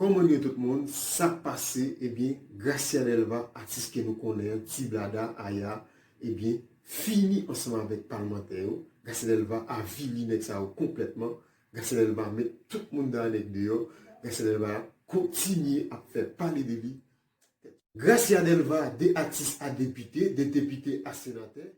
Koman nou ye tout moun sak pase ebyen Gracia Delva atis ke nou konnen an ti blada aya ebyen fini ansanm avèk palmantè yo Gracia Delva avili nèg sa yo konplètman Gracia Delva met tout moun da nèg deyò Gracia Delva kontinye ap fè pale de li Gracia Delva de atis a depite de depite a senatè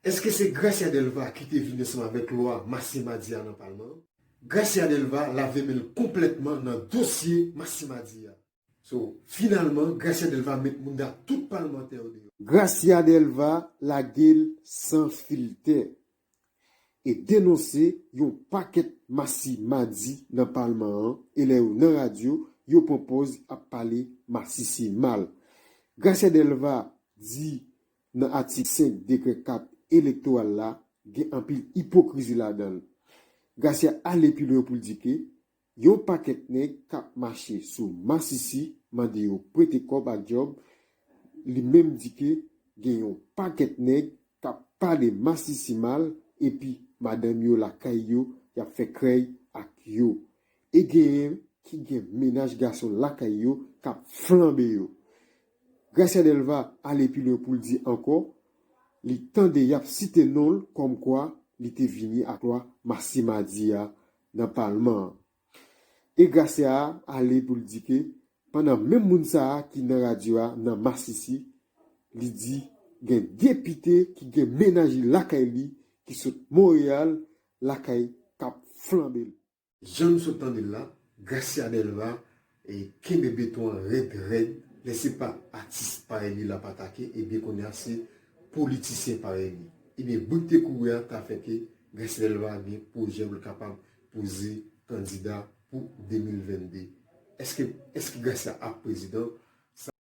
Eske se Gracia Delva ki te vin ansanm avèk lwa Masisi Madi a nan palman an? Gracia Delva lave men l konplètman nan dosye Masisi Madi a. So, finalman, Gracia Delva met mounda tout palmantè yo deyò. Gracia Delva lage l san filtè e denonse yon pakèt Masisi Madi nan palman an e lè yo nan radyo, yo pran pòz ap pale Masisi mal. Gracia Delva di nan atik 5 dekrè 4 elektoral la gen anpil ipokrizi ladan l. Garcia ale pi lwen pou l di ke yon pakèt nèg k ap mache sou masisi mande yo prete kòb ak djòb, li menm di ke gen yon pakèt nèg k ap pale masisi mal epi madanm yo lakay yo y ap fè krèy ak yo e genyen ki gen mennaj gason lakay yo k ap flanbe yo. Gracia Delva ale pi lwen pou l di ankò li tande y ap site non l kòmkwa li te vini ak lwa Masisi Madi a nan palman an. E Gracia a ale pou l di ke pandan menm moun sa a ki nan radyo a nan Masisi, li di gen depite ki gen mennaj li lakay li ki sot Monreyal lakay k ap flanbe l. Jan nou sot tande l la, Gracia Delva kenbe beton an rèd rèd, lè se pa atis parèy li l ap atake ebyen kounye a se politisyen parèy li. Ebyen bri k te kouri a ta fè ke Gracia Delva gen pwojè pou l kapab poze kandida pou 2022. Eske Gracia ap prezidan?